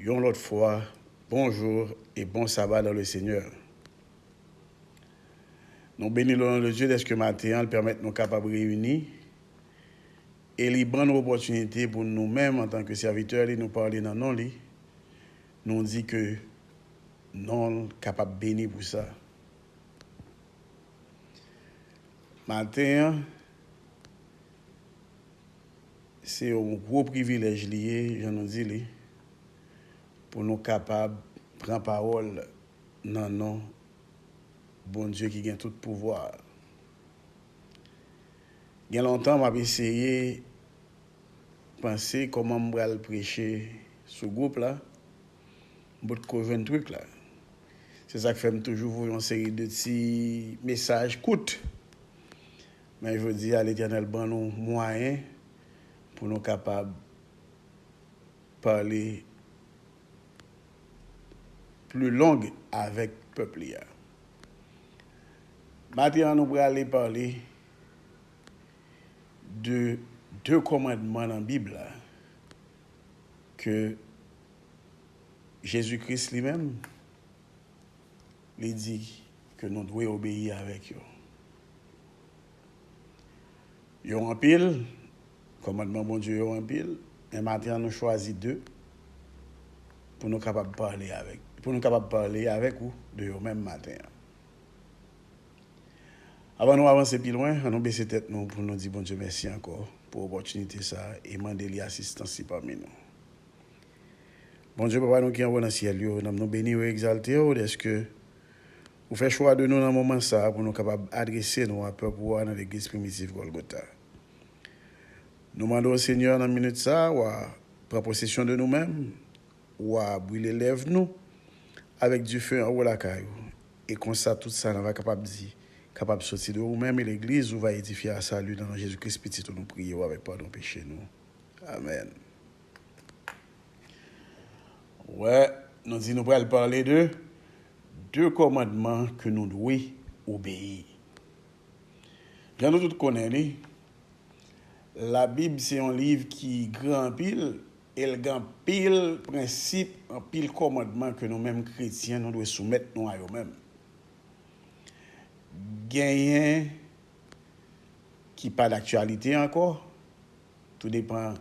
Yon lòt fwa bonjour et bon sabbat dans le Seigneur. Nou beni le nom de Dieu dèske maten an l pèmèt nou kapab reyini e li ban nou opòtinite pou nou menm antan ke sèvitè li nou pale nan non li, nou di ke non l kapab beni pou sa. Maten an. Se yon gwo privilèj li ye, jan nou di li, pou nou kapab pran pawòl nan non Bondye ki gen tout pouvwa a. Gen lontan m ap eseye panse kòman m pral preche sou gwoup la, m potko jwenn trik la. Se sa k fè m toujou voye yon seri de ti mesaj kout Men jodi a Letènèl ban nou mwayen pou nou kapab pale pli long avèk pèp li a. Maten an nou prale pale de de kòmandman nan Bib la ke Jezi Kris li menm, Li di ke nou dwe obeyi avèk yo. Yo anpil, kòmandman Bondye yo anpil, men maten an nou chwazi de pou nou kapab pale avèk, pou nou kapab pale avèk ou de yo menm maten an. Avan nou avanse pi lwen, annou bese tèt nou pou nou di Bondye mèsi ankò pou opòtinite sa a e mande li asistans li pami nou. Bondye Papa nou ki anwo nan syèl yo, nanm nou beni ou e egzalte ou dèske ou fè chwa de nou nan moman sa a pou nou kapab adrese nou a pèp ou a nan legliz primitiv Gòlgota. Nou mande ou Senyè nan minit sa a wa pran posesyon de nou menm, wa brile lèv nou avèk dife anwo lakay ou e konsa tout sa nan va kapab di kapab soti de ou menm e legliz ou va edifye a sali nan non Jezi Kris Pitit ou nou priye ou avèk padon peche nou. Amèn. Wè, nou di nou pral pale de de kòmandman ke nou dwe obeyi. Jan nou tout konnen li, Labib se yon liv ki gran anpil e l gen anpil prensip, anpil kòmandman ke nou menm kretyen nou dwe soumèt nou a yo menm. Genyen ki pa daktyalite ankò. Tou depan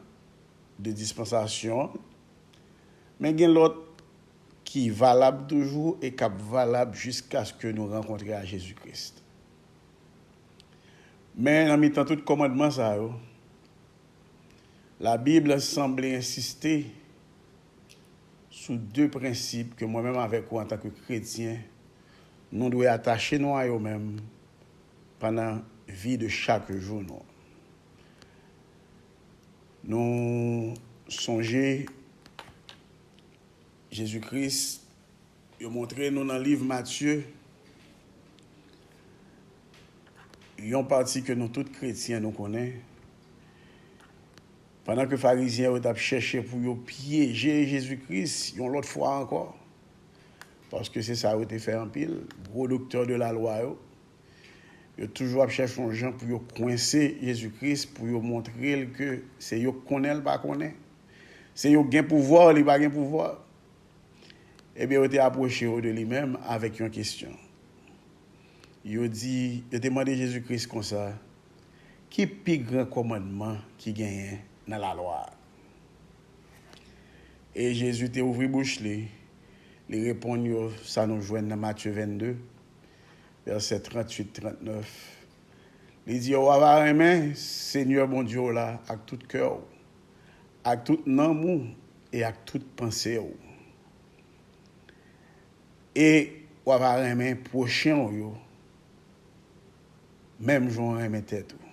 de dispansasyon an. Men gen lòt ki valab toujou e k ap valab jiskaske nou rankontre a Jezi Kris. Men nan mitan tout kòmandman sa yo, Labib sanble ensiste sou de prensip ke mwen menm avèk ou antanke kretyen, nou dwe atache nou a yo menm pandan vi de chak jou nou. Nou sonje Jezi Kris, yo montre nou nan liv Matye, yon pati ke nou tout kretyen nou konnen, pandan ke farizyen yo tap chèche pou yo pyeje Jezi Kris yon lòt fwa ankò, paske se sa yo te fè anpil gwo doktè de la lwa yo, Yo toujou ap chèche yon jan pou yo kwense Jezi Kris, pou yo montre l ke se yo k konnen l pa konnen, se yo k gen pouvwa li pa gen pouvwa. Ebyen yo te apwoche yo de li menm avèk yon kesyon. Yo di, yo te mande Jezi Kris konsa, Ki pi gran kòmandman ki genyen nan Lalwa a? E Jezi te ouvri bouch li, li reponn yo sa nou jwenn nan Matye 22, Vèsè 38, 39, Li di yo, Wa va renmen Senyè Bondye w la ak tout kè w, ak tout nanm ou e ak tout panse w, e wa va renmen pwochen w yo menm jan w renmen tèt ou.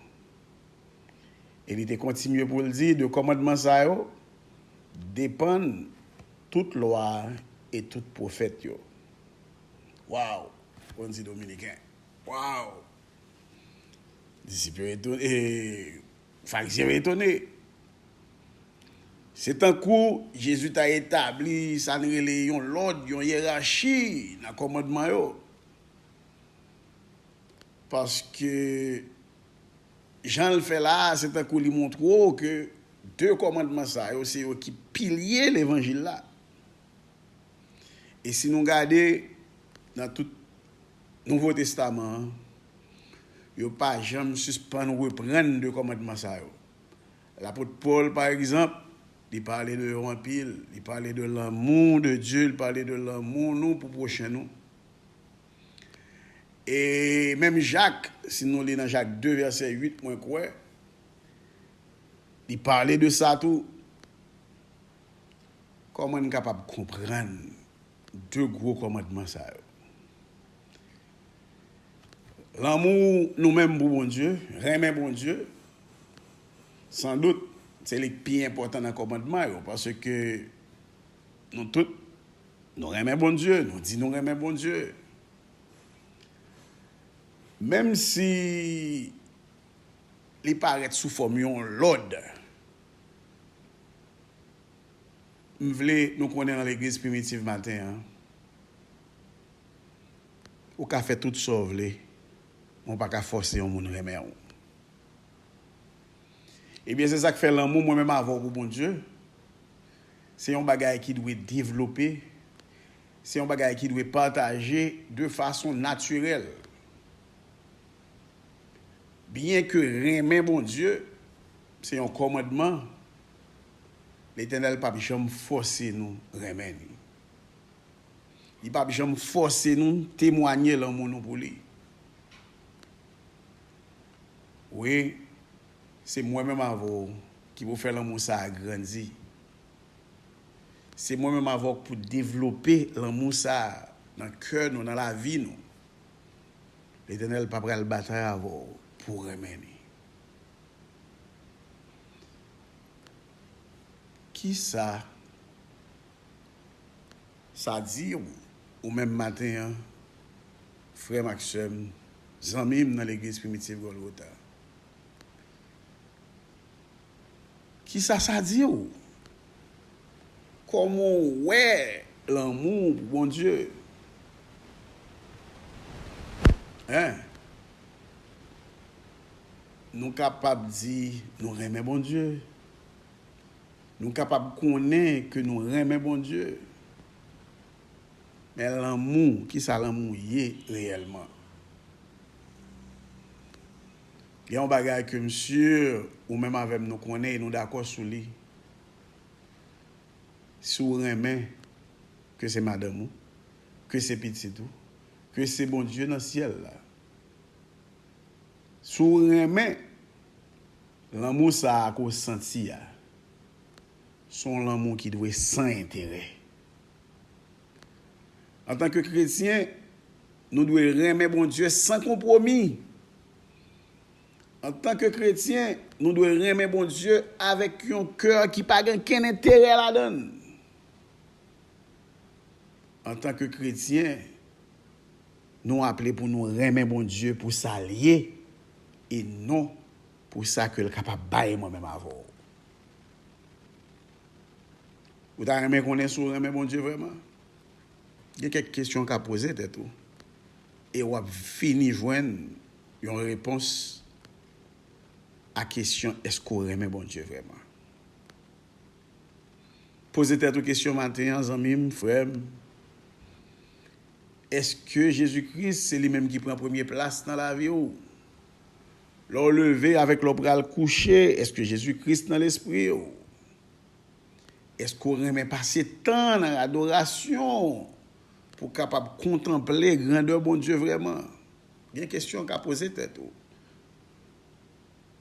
E li te kontinye pou l di, De kòmandman sa yo depann tout lwa a e tout pwofèt yo. Waw bon di dominiken waw disip yo etone eee farizyen yo etone se tankou jezi ta etabli sa nou rele yon lòd yon yerachi nan kòmandman yo paske janl fè la a se tankou li montre w ke de kòmandman sa yo se yo ki pilye levanjil la. E si nou gade nan tout Nouvo Testaman an, yo pa janm sispann reprann de kòmandman sa yo. Lapot Pòl, pa egzanp, li pale de yo anpil. Li pale de lanmou de Dye, li pale de lanmou nou pou pwochen nou. E menm Jak, si nou li nan Jak 2 vèsè 8, mwen kwè, li pale de sa tou. Kòman n kapab konprann de gwo kòmandman sa yo? Lanmou nou menm pou Bondye, renmen Bondye, sandout se li k pi enpòtan nan kòmandman yo, paske nou tout nou renmen Bondye, nou di nou renmen Bondye. Menmsi li parèt sou fòm yon lòd, M vle nou konnen nan legliz primitiv maten an ou ka fè tout sa w vle men w pa ka fòse yon moun renmen w ebyen se sak fè lanmou mwen menm avè w pou Bondye se yon bagay ki dwe devlope se yon bagay ki dwe pataje de fason natirèl byen ke renmen Bondye Se yon kòmandman, Letènèl pap janm fòse nou renmen li. Li pap janm fòse nou temwanye lanmou nou pou li. Wi, se mwen menm avè w ki pou fè lanmou sa a grandi. Se mwen menm avè w k pou devlope lanmou sa a nan kè nou, nan lavi nou. Letènèl pa pral batay avè w pou w renmen li. Kisa sa di ou menm maten an, frè m ak sè m, zanmi m nan legliz Primitive Golgotha? Kisa sa di ou? Kòman ou wè lanmou ou pou Bondye? Hein? Nou kapab di nou renmen Bondye. Nou kapab konnen ke nou renmen Bondye. Men lanmou, ki sa lanmou ye reyèlman? Gen yon bagay ke m sur ou menm avè m nou konnen e nou dakò sou li. Si w renmen, ke se madanm ou, ke se pitit ou, ke se Bondye nan syèl la, Si w renmen lanmou sa a ke w santi a, se yon lanmou ki dwe san enterè. Antanke kretyen, nou dwe renmen Bondye san konpwomi. Antanke kretyen, nou dwe renmen Bondye avèk yon kè ki pa gen okenn enterè ladan l. Antanke kretyen. Nou aple pou nou renmen Bondye pou sa l ye e non pou sa ke l kapab bay mwen menm avè w. Ou ta renmen konnen si w renmen Bondye vrèman? Gen kèk kesyon w ka poze tèt ou e w ap fini jwenn yon repons a kesyon èske w renmen Bondye vrèman? Poze tèt ou kesyon maten an zanmi m, frè m. Èske Jezi Kris se li menm ki pran premye plas nan lavi ou? Lè w leve avèk lè w pral kouche, èske Jezi Kris nan lespri ou? Èske w renmen pase tan nan adorasyon pou w kapab kontanple grandè Bondye vrèman? Gen kesyon w ka poze tèt ou.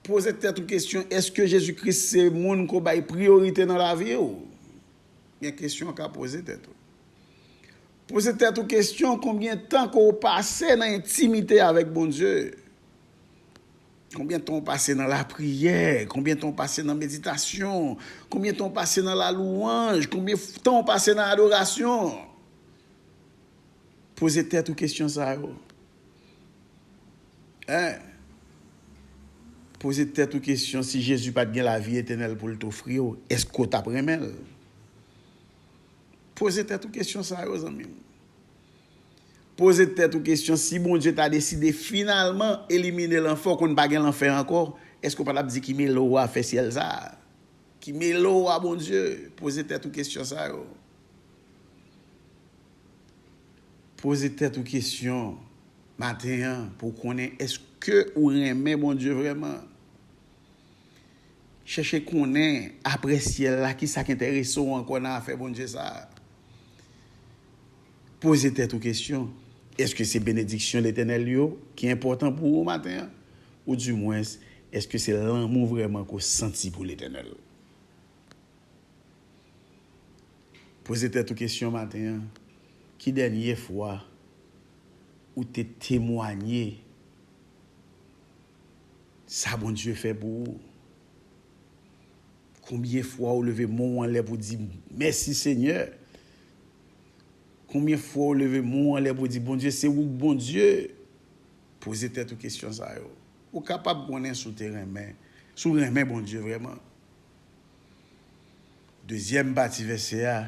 Poze tèt ou kesyon, èske Jezi Kris se moun ke w bay priyorite nan lavi ou? Gen kesyon w ka poze tèt ou. Poze tèt ou kesyon konbyen tan ke w pase nan entimite avèk Bondye? Konbyen tan w pase nan lapriyè? Konbyen tan w pase nan meditasyon? Konbyen tan w pase nan lalouwanj? Konbyen tan w pase nan adorasyon? Poze tèt ou kesyon sa yo. Hein? Poze tèt ou kesyon si Jezi pat gen lavi etènèl pou l t ofri w, èske w tap renmen l? Poze tèt ou kesyon sa yo zanmi m. Poze tèt ou kesyon si Bondye ta deside finalman elimine lanfè ou konn pa gen lanfè ankò eske ou pa tap di ki mele ou a fè syèl sa? Ki mele ou a Bondye? Poze tèt ou kesyon sa yo. Poze tèt ou kesyon maten an pou w konnen eske ou renmen Bondye vrèman. Chèche konnen, apre syèl la, ki sa k enterese w ankò nan afè Bondye sa a. Poze tèt ou kesyon, Èske se benediksyon Letènèl yo ki enpòtan pou ou maten an? Ou di mwens, èske se lanmou vrèman ke w santi pou Letènèl? Poze tèt ou kesyon maten an, Ki dènye fwa ou te temwanye? Sa Bondye fè pou ou. Konbyen fwa ou leve men w anlè pou di mèsi senyè. Konbyen fwa ou leve men w anlè pou di Bondye se ou k Bondye. Poze tèt ou kesyon sa yo. Ou kapab konnen si w te renmen, si w renmen Bondye vrèman. Dezyèm pati vèsè a,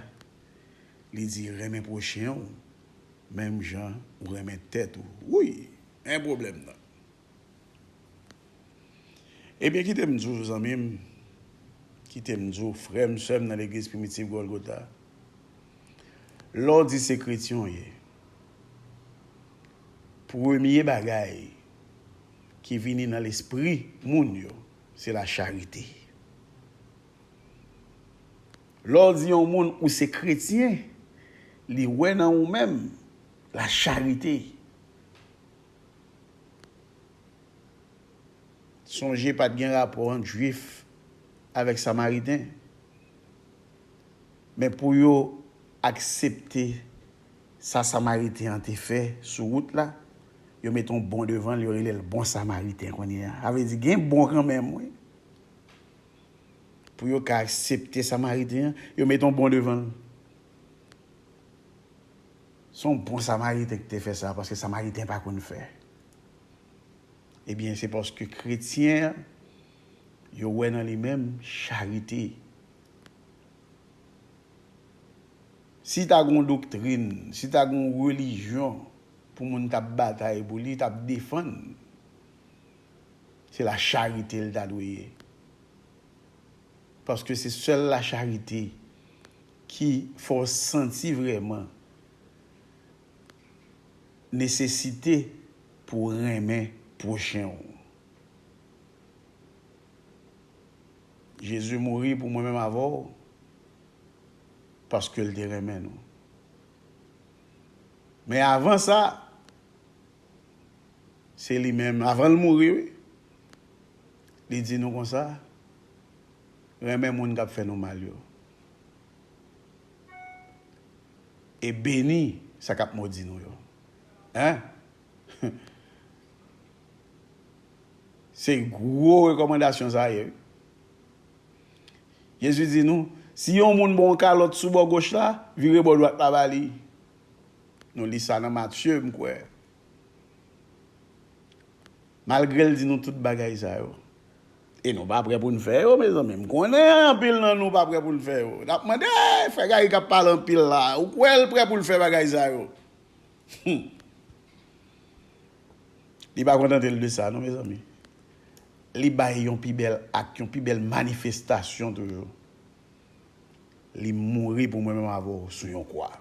li di renmen pwochen ou menm jan ou renmen tèt ou. Wouyy! Men pwoblèm nan. Ebyen kite m di w zanmi m, kite m di w frè m, sè m nan legliz primitiv Gòlgota, lè w di se kretyen w ye, premye bagay ki vini nan lespri moun yo, se lacharite. Lè w di yon moun ou se kretyen, li wè nan ou menm lacharite. Sonje pa t gen rapò ant Juif avèk Samariten. Men pou yo aksepte sa Samariten an te fè sou wout la, yo met yon bon devan l, yo rele l bon Samariten kounye a. Sa vle di gen bon kanmenm wi. Pou yo ka aksepte Samariten an, yo met yon bon devan l. Se yon bon samariten ki te fè sa, paske samariten pa konn fè. Ebyen, se paske kretyen yo wè nan li menm charite. Si ta gen yon doktrin, si ta gen yon relijyon pou moun ta batay pou li, ta defann, se lacharite li ta dwe ye. Paske se sèl lacharite. Ki fè w santi vrèman nesesite pou w renmen pwochen w? Jezi mouri pou mwen menm avè w paske l te renmen nou. Men avan sa, se li menm, avan l mouri wi, li di nou konsa, renmen moun kap fè nou mal yo e beni sa kap modi nou yo hein se gwo rekòmandasyon sa ye wi Jezi di nou si yon moun ba w yon kalòt sou bò goch la vire bò dwat la ba li nou li sa nan Matye m kwè malgre l di nou tout bagay sa yo. E nou pa prè pou n fè yo mezanmi. M konnen anpil nan nou pa prè pou n fè yo. N ap mande, Frè Gary k ap pale anpil la, ou kwè l prè pou l fè bagay sa yo? Hum! Li pa kontante l de sa non mezanmi. Li bay yon pi bèl ak, yon pi bèl manifestasyon toujou. Li mouri pou mwen menm avè w sou yon kwa.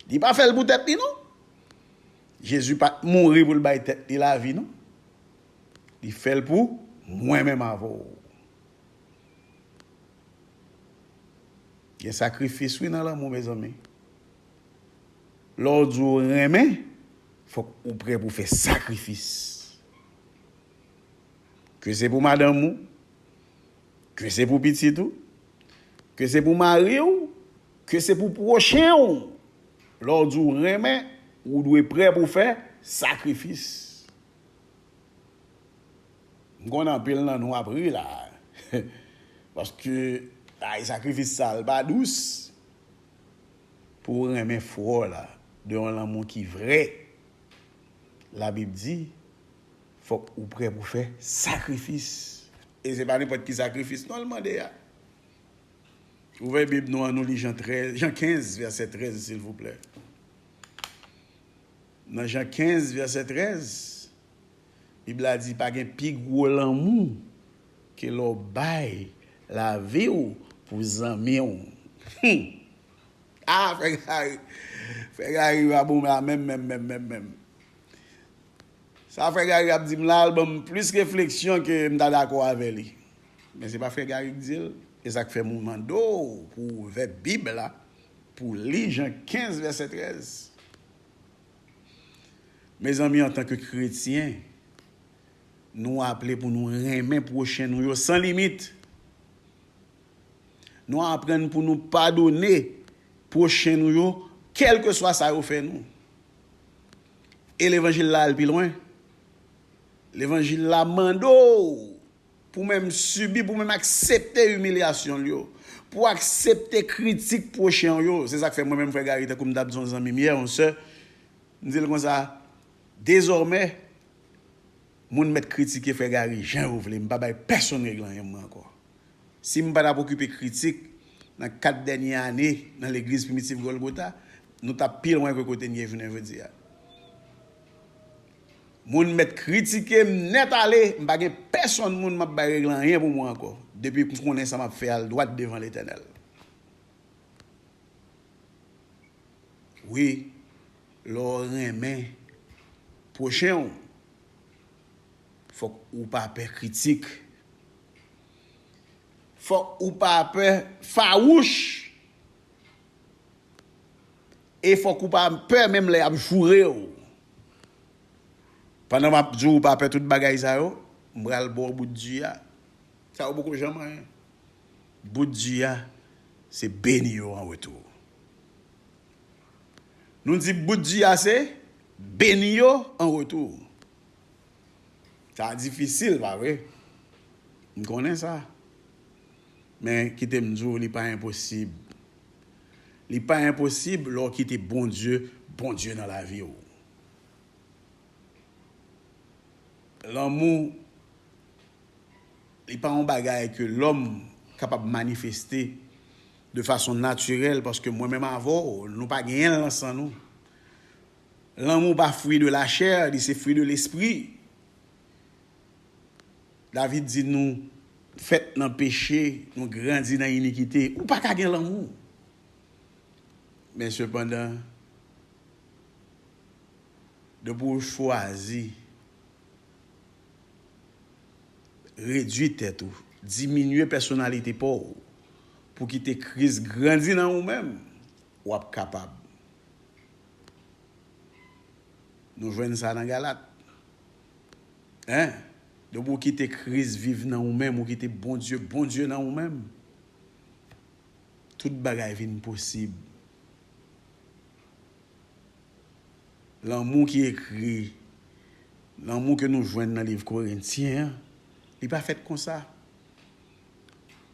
Li pa fè l pou tèt li non. Jezi pat mouri pou l bay tèt li lavi non li fè l pou mwen menm avè w gen sakrifis wi nan lanmou mezanmi lè w di w renmen fòk ou prè pou fè sakrifis ke se pou madanm ou ke se pou pitit ou ke se pou mari w Ke se pou pwochen ou! Lè w di w renmen, ou dwe prè pou fè sakrifis. M konnen anpil nan nou ap ri la a. Paske bagay sakrifis sa l pa dous. Pou w renmen frè w la de yon lanmou ki vrè, Labib di, fòk ou prè pou fè sakrifis. E se pa nenpòt ki sakrifis non l mande a. Ouvè bib nou an nou li Jan 13, Jan 15 vèsè 13 silvouplè. Nan Jan 15 vèsè 13, bib la di pa gen pi gwo lanmou ke lè w bay lavi w pou zanmi w. Humm! A frè Gary, frè Gary pa bon la menm menm menm menm menm. Sa frè Gary ap di m la al ban m plis refleksyon ke m ta dakò avè li. Men se pa frè Gary k dil, e sak fèm ou mande w pou w ouvè bib la pou w li Jan 15 vèsè 13. Mezanmi antanke kretyen nou aple pou nou renmen pwochen nou yo san limit. Nou aprann pou nou padone pwochen nou yo kèlkeswa sa yo fè nou. E levanjil la al pi lwen. Levanjil la mande w Pou menm sibi, pou menm aksepte imilyasyon l yo, pou w aksepte kritik pwochen w yo. Se sa k fè mwen menm frè Gary, tankou m t ap di yon zanmi m yè, yon sè, m di l konsa, Dezòmè, moun mèt kritike frè Gary jan yo vle, m pa bay pèsonn règle anyen mwen ankò. Si m pa t ap okipe kritik nan 4 dènye ane nan legliz Primitif Gòlgota, nou t ap pi lwen ke kote n ye jounen jodi a. Moun mèt kritike m nèt ale, m pa gen pèsonn moun m ap bay règle anyen pou mwen ankò, depi m konnen sa m ap fè al dwat devan Letènèl. Wi, lè w renmen pwochen w, fòk ou pa pè kritik. Fòk ou pa pè fawouch. E fòk ou pa pè menm lè yap joure w. Pandan map di w ou pa pè tout bagay sa yo, m pral ba w bout di a. Sa yo poko janm anyen. Bout di a, se beni yo an retou. Nou di bout di a se, beni yo an retou. Sa difisil, pa vre? M konnen sa. Men, kite m di w, li pa enposib. Li pa enposib lè w kite Bondye Bondye nan lavi w. Lanmou, li pa yon bagay ke lòm kapab manifeste de fason natirèl, paske mwen menm avè w, nou pa genyen l nan san nou. Lanmou pa fwi de lachè, li se fwi de lespri. David di nou fèt nan peche, nou grandi nan inikite. Ou pa ka gen lanmou. Men sepandan, depi ou chwazi redui tèt ou, diminye pèsonalite pa w pou kite Kris grandi nan ou menm, w ap kapab. Nou jwenn sa nan Galat. Hein Depi ou kite Christ viv nan ou menm ou kite Bondye Bondye nan ou menm tout bagay vin posib lanmou ki ekri lanmou ke nou jwenn nan liv korentyen an li pa fèt konsa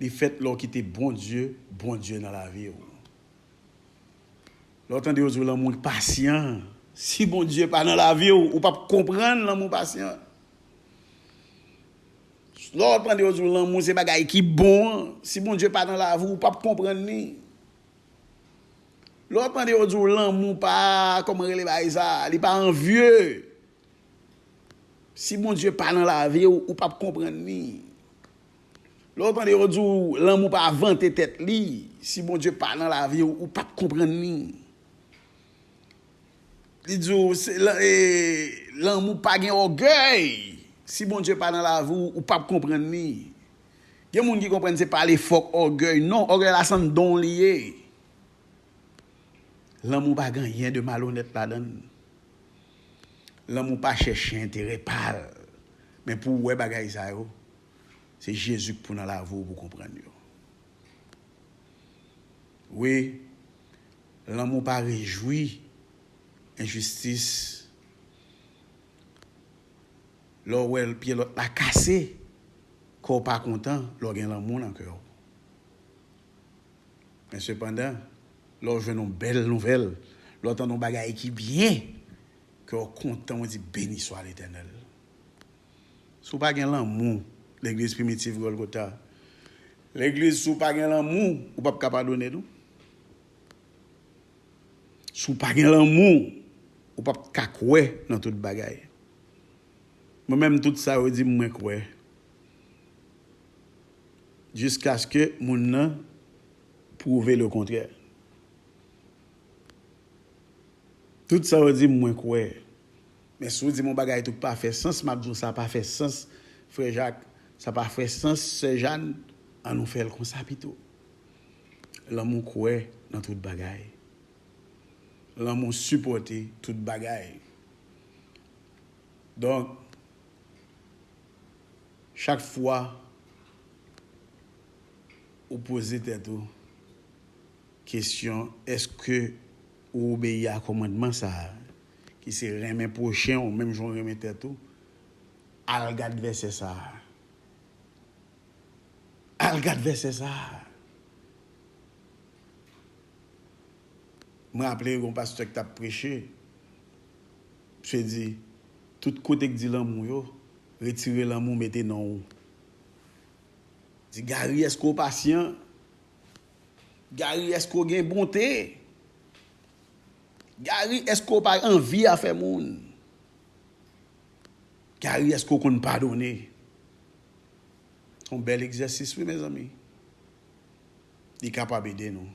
li fèt lè ou kite Bondye Bondye nan lavi ou. Lè w tande yo di w lanmou pasyan, si Bondye pa nan lavi w, ou p ap konprann lanmou pasyan. Lè w tande yo di w lanmou se bagay ki bon an, si Bondye pa nan lavi w, ou p ap konprann li. Lè w tande yo di w lanmou pa, kòman rele bagay sa, li pa anvye, si Bondye pa nan lavi w, ou p ap konprann li. Lè w tande yo di w lanmou pa vante tèt li, si Bondye pa nan lavi w, ou p ap konprann li. Li di w lanmou pa gen ògèy, si Bondye pa nan lavi w, ou p ap konprann li. Gen moun ki konprann se pale fò k ògèy, non, ògèy la se yon don li ye. Lanmou pa gen anyen de malonèt ladan l. Lanmou pa chèche enterè pa l. Men pou w wè bagay sa yo, se Jezi k pou nan lavi w pou w konprann yo. Wi, lanmou pa rejwi enjistis. Lè w wè pye lòt la kase, kè w pa kontan lè w gen lanmou nan kè w. Men sepandan, lè w jwenn yon bèl nouvèl, lè w tande yon bagay ki byen, kè w kontan, w di, Beniswa Letènèl! Si w pa gen lanmou Legliz Primitif Gòlgota, Legliz, si w pa gen lanmou, ou pap ka padone tou. Si w pa gen lanmou, ou pap ka kwè nan tout bagay. Mwen menm, tout sa yo di m, mwen kwè. jiskaske moun nan pwouve lekontrè. Tout sa ou di m mwen kwè. Men si w di m yon bagay tou k pa fè sans, m ap di w sa pa fè sans frè Jak, sa pa fè sans sè Jàn, an nou fè l konsa pito. Lanmou kwè nan tout bagay. Lanmou sipòte tout bagay. Donk. Chak fwa ou poze tèt ou kesyon èske ou obeyi a kòmandman sa a, ki se renmen pwochen ou menm jan w renmen tèt ou, al gad vèsè sa a. Al gad vèsè sa a! M raple gen yon pastè ki t ap preche, misye di, tout kote ki di lanmou yo, Retire lanmou mete non ou. Di Gary eske w pasyan? Gary eske w gen bonte? Gary eske w pa anvi afè moun? Gary eske w konn padone? Son bèl egzèsis wi mezanmi. Li kapab ede nou.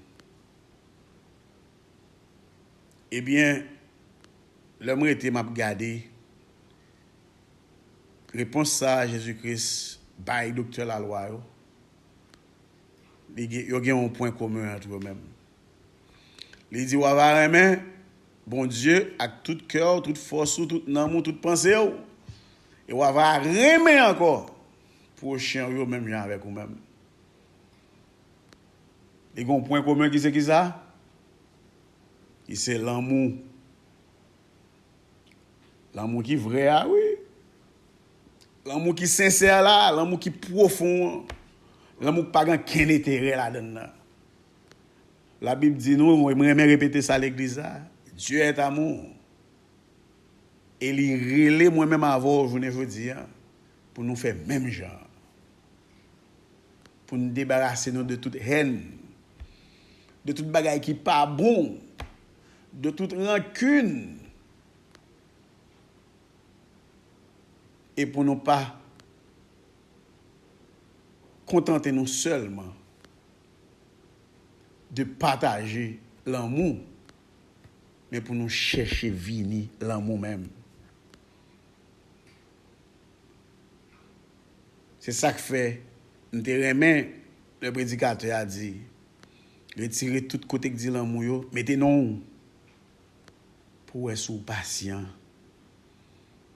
Ebyen lè m rete map gade Repons sa a Jezi Kris bay doktè lalwa yo, yo gen yon pwen komen ant yo menm. Li di, Wa va renmen Bondye ak tout kè w, tout fòs ou, tout nanm ou, tout panse w, e wa va renmen ankò pwochen w yo menm jan avèk ou menm. Li gen yon pwen komen ki se kisa? Ki se lanmou. Lanmou ki vrè a wi. Lanmou ki sensè la, lanmou ki pwofon an. Lanmou ki pa gen okenn enterè ladann nan. Labib di nou, e mwen renmen repete sa legliz la, Dieu est amour. E li rele mwen menm avè w jounen jodi a pou nou fè menm jan an. Pou nou debarase nou de tout hèn, de tout bagay ki pa bon. De tout rankin e pou nou pa kontante nou sèlman de pataje lanmou men pou nou chèche vini lanmou menm. Se sa k fè m te renmen lè predikatè a di. Retire tout kote k di lanmou yo, mete non w. Pou w wè si w pasyan.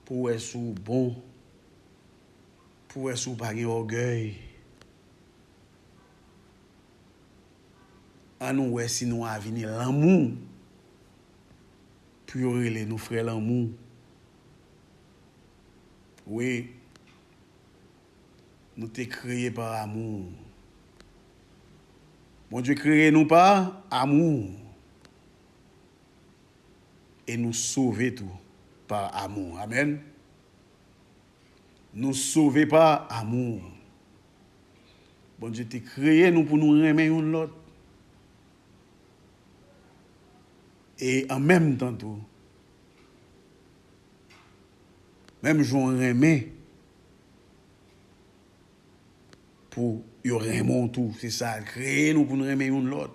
Pou w wè si w bon. Pou w wè si w pa gen ògèy. An nou wè si nou avini lanmou. Pou yo rele nou frè lanmou. Wi, nou te kreye par amour. Bondye kreye nou pa amour e nou sove tou pa amour amen nou sove pa amour Bondye te kreye nou pou nou renmen youn lòt e an menm tan tou menm jan w renmen Pou yo renmen w tou. Se sa l kreye nou pou n renmen youn lòt.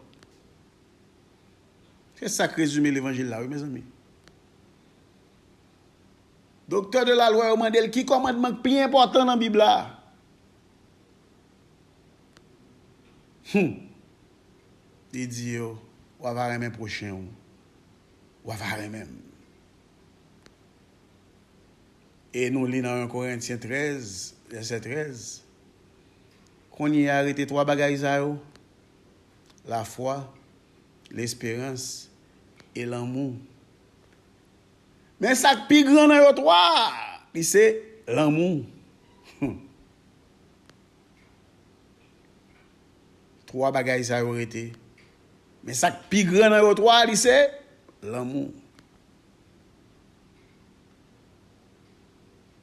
Se sa k rezime levanjil la wi mezanmi. Doktè de lalwa yo mande l ki kòmandman k pi enpòtan nan Bib la. Hum! Li di yo, w ava renmen pwochen w. W ava renmen m. E nou li nan 1 Korentyen 13, vèsè 13, Kounye a rete twa bagay sa yo, lafwa, lesperans, e lanmou. Men sa k pi gran nan yo twa a, li se lanmou. Hum! Twa bagay sa yo rete, men sa k pi gran nan yo twa a, li se lanmou.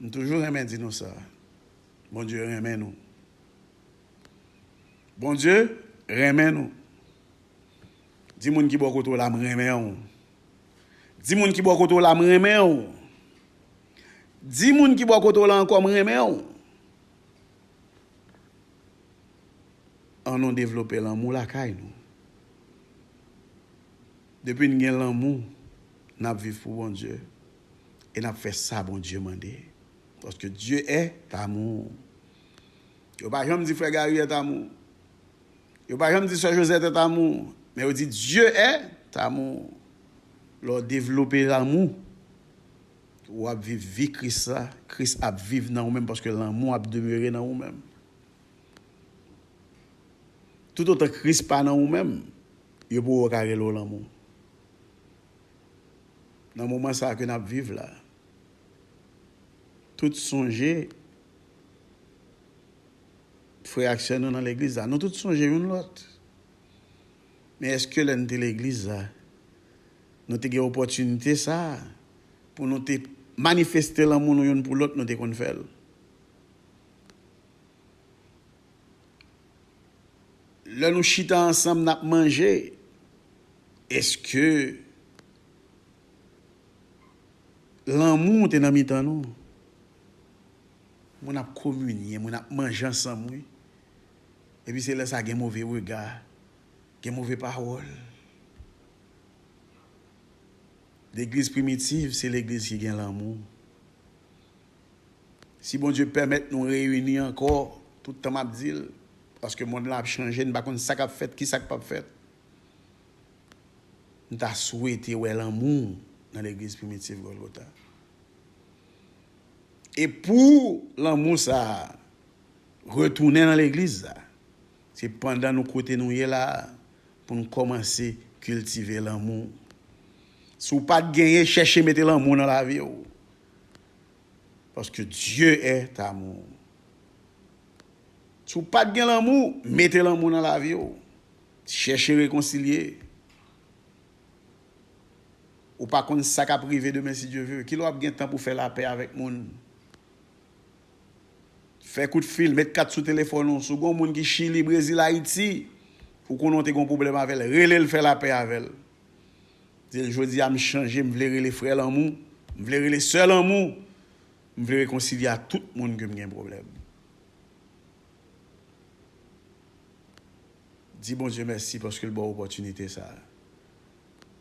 M toujou renmen di nou sa Bondye renmen nou Bondye renmen nou Di moun ki bò kote w la m renmen w Di moun ki bò kote w la m renmen w Di moun ki bò kote w la ankò m renmen w An nou devlope lanmou lakay nou Depi n gen lanmou N ap viv pou Bondye e n ap fè sa Bondye mande. Paske Dye est amour. Yo pa janm di frè Gary est amour. Yo pa janm di sè Josette est amour. Men yo di Dye est amour. Lè w devlope lanmou, w ap viv vi Kris la. Kris ap viv nan ou menm paske lanmou ap demere nan ou menm. Toutotan Kris pa nan ou menm, yo pou wè w ka rele w lanmou. Nan moman sa ke nap viv la tout sonje frè ak sè nou nan legliz la nou tout sonje youn lòt men eske lè nou te legliz la nou te gen opòtinite sa pou nou te manifeste lanmou nou youn pou lòt nou te konn fèl. Lè nou chita ansanm nap manje eske lanmou te nan mitan nou? Moun ap kominye, moun ap manje ansanm wi. Epi se lè sa gen move rega, gen move pawòl. Legliz primitiv se legliz ki gen lanmou. Si Bondye pèmèt nou reyini ankò, tout tan m ap di l, paske mond lan ap chanje, n pa konn sa k ap fèt, kisa k p ap fèt, m ta swete wè lanmou nan legliz Primitif Gòlgota. E pou lanmou sa a retounen nan legliz sa, se pandan nou kote nou ye la a pou nou kòmanse kiltive lanmou. Si w pa t genyen, chèche mete lanmou nan lavi w. Paske Dieu est amour. Si w pat gen lanmou, mete lanmou nan lavi w. Chèche rekonsilye. Ou pa konn sa kap rive demen si Dieu veut. Kilè w ap gen tan pou fè lapè avèk moun? Fè kout fil, met kat sou telefòn ou. Si w gen yon moun ki Chili, Brezil, Ayiti, ou konnen w te gen yon pwoblèm avè l, rele l fè lapè avè l. Di l, Jodi a m chanje, m vle rele frè lanmou, m vle rele sè lanmou, m vle rekonsilye ak tout moun ke m gen pwoblèm. Di Bondye mèsi paske l ba w opòtinite sa a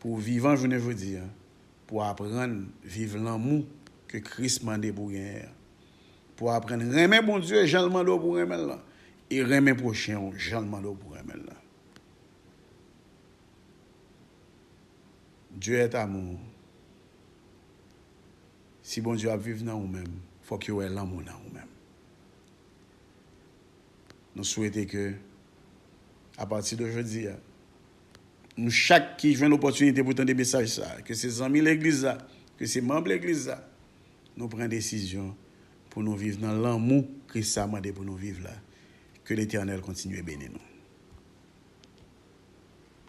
pou w vivan jounen jodi a, pou w aprann viv lanmou ke Kris mande pou w genyen an, pou w aprann renmen Bondye jan l mande w pou w renmen l lan e renmen pwochen w jan l mande w pou w renmen l lan. Dieu est amour Si Bondye ap viv nan ou menm fòk yo wè lanmou nan ou menm Nou swete ke a pati de jodi a nou chak ki jwenn opòtinite pou tande mesaj sa ke se zanmi legliz la ke se manb legliz la nou pran desizyon pou nou viv nan lanmou Kris sa mande pou nou viv la Ke Letènèl kontinye beni nou.